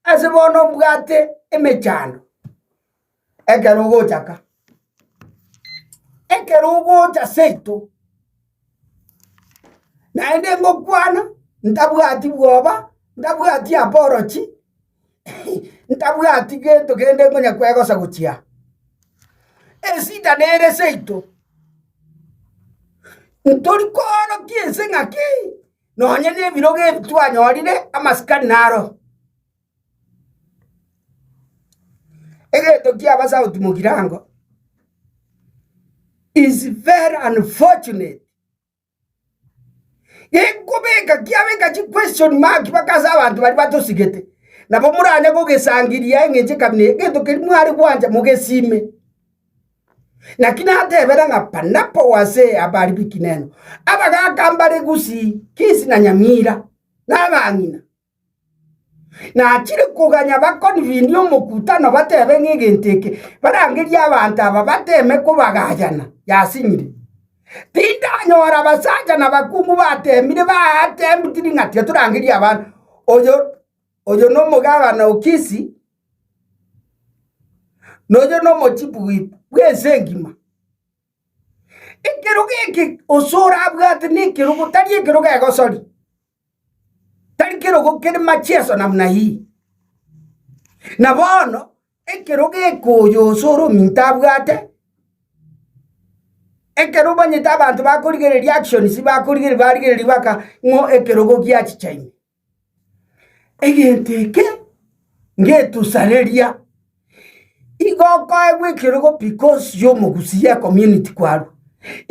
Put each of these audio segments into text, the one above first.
Ase bono mbwate emechando ekero ogocha ka. Ekero ogocha seito, naende ngokwana ntabwati bwoba, ntabwati apology, ntabwati gento kende nkonya kwegosa gochia aa. Eshida nere seito, ntori koorokia ense ng'aki. nonya nebirogo ebi twanyorire amasikani naro. Egento ki'Abasauti mogirango is very unfortunate. Gekobeka kiabeka chiquestion mark mpaka ase abanto baria batosigete, nabo moranye kogesangiria aye eng'encho ekabina eye, egento keria mware gwancha mogesime. Naki natebera ng'a Barnaba oo ase abari b'ekineno, abagaaka mbare gusii Kisi na Nyamira, na abang'ina. Nachire koganya bakoni rinde omokutano batebe ng'a egento eke barangerie abanto aba bateme kobagayana yasinyire. Tindanyora abasacha na abakungu batemire batemtiri ng'a tiga torangerie abana, oyo oyo nomogabana o Kisi, nonya nomochibi oito bw'ense engima. Ekerogo eke gose orabwate nekerogo tari ekerogo egosori, tari kerogo kere machieso namna hii. Na bono ekerogo eke oyo gose ore ominto abwate, ekero omanyete abanto bakorigereria actions bakorigereria barigereria baka ng'o ekerogo giachicha ime. Egento eke ngetosareria, igo okoegwa ekerogo because y'omogusi y'ecommunity kwarwa.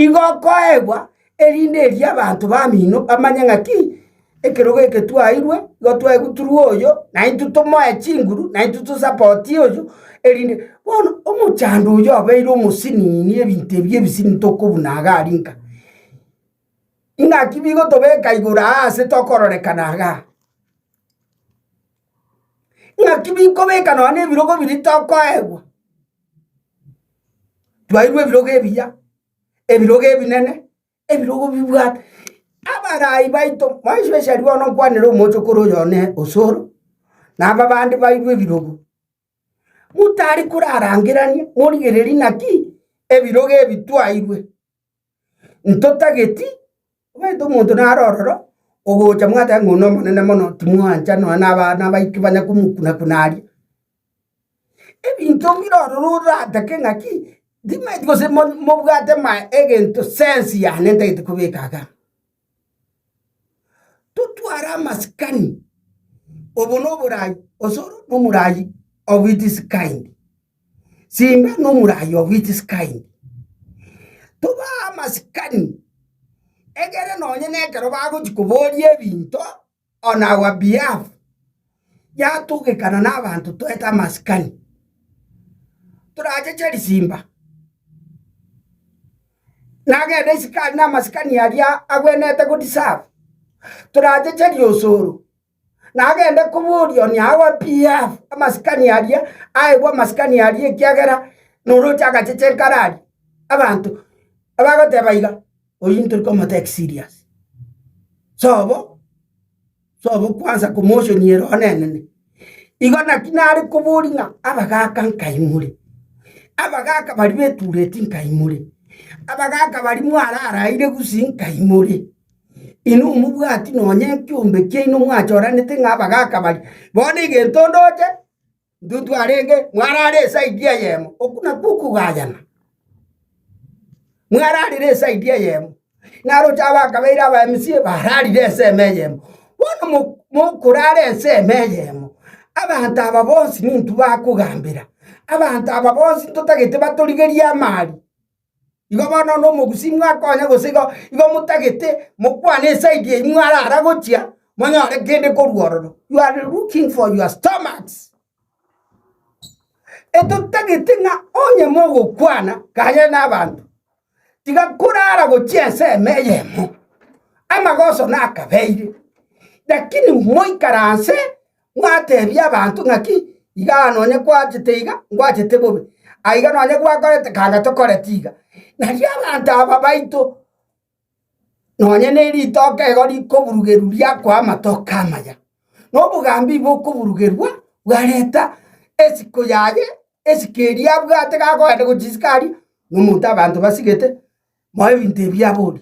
Igo okoegwa erinde erio abanto bamino bamanye ng'aki, ekerogo eke twairwe, igo twaigwa turwe oyo, naintwe tomoe chinguru, naintwe tosapotie oyo, erinde bono omochando oyo obeire omosinini ebinto ebi ebisini tokobuna iga arinka. Ing'aki bigotobeka igoro aa ase tokororekana iga? Ing'aki bikobeka nonya nebirogo biria tokoegwa? Twairwa ebirogo ebiya, ebirogo ebinene, ebirogo bibwate abarai baito, mwaigwa esaria one okwanera omochokoro oyo one osoro, naba abande bairwa ebirogo. motari korarangerania, morigererie naki ebirogo ebi twairwe, ntotageti omanyete omonto naro ororo ogocha mwateba ng'a oyio nomonene mono timwancha nonya na abana baito banya komokuna kuna aria. Ebinto bire ororo oratake ng'aki timaeti gose mo mobwate ma egento sense yane ntagete kobeka igaa. Totware amasikani, obo noborai osoro nomorai of its kind, simba nomorai of its kind, tobaa amasikani egere nonye nekero bagochi koboria ebinto. on our behalf, yatugekana nabanto toete amasikani, toracheche risimba, nagende isiko aria namasikani aria agwenerete go deserve, toracheche riosoro, nagende koboria on our behalf amasikani aria aegwe amasikani aria ekiagera noroche agacheche nkaro aria abanto abagoteba iga. Oyio ntori komotake serious. Sobo, sobo kwanza komotionia ere onenene. Igo naki nare kobori ng'a abagaka nkaimore, abagaka baria betureti nkaimore, abagaka baria mwararaire gusii nkaimore. Inwe omobwati nonye ekiombe kiaino mwachoranete ng'a abagaka baria, bono egento ndoche, Intwe twarenge mwarare esaidi eyemo, okwo nakwo okogayana, mwararire esaidi eyemo, naroche abakabeire aba-MC bararire ensemo eyemo. Bono mo mokorara ensemo eyemo, abanto aba bonsi nintwe bakogambera, abanto aba bonsi ntotagete batorigerie amari. Igo bono onde omogusii mwakonya gose igo, igo motagete mokwane esaidi eyi mwarara gochia, monyore kende korwa ororo. You are looking for your stomachs. Etotagete ng'a onye mogokwana kare nabanto, tiga korara gochia ensemo eyemo, amagoso nakabeire, lakini moikaranse Mwateebia abanto ng'aki? Iga nonye kwachete iga, ngwachete bobe, aiga nonye gwakorete kanga tokoreti iga. Nario abanto aba baito nonye neritoka igo rikoburugerwa riakoa amatoke amaya, na obogambi bokoburugerwa bwareta esiko yaye, esiko eria abwate gakogenda gochisika aria, na omonto abanto basigete, moe ebinto ebi abori.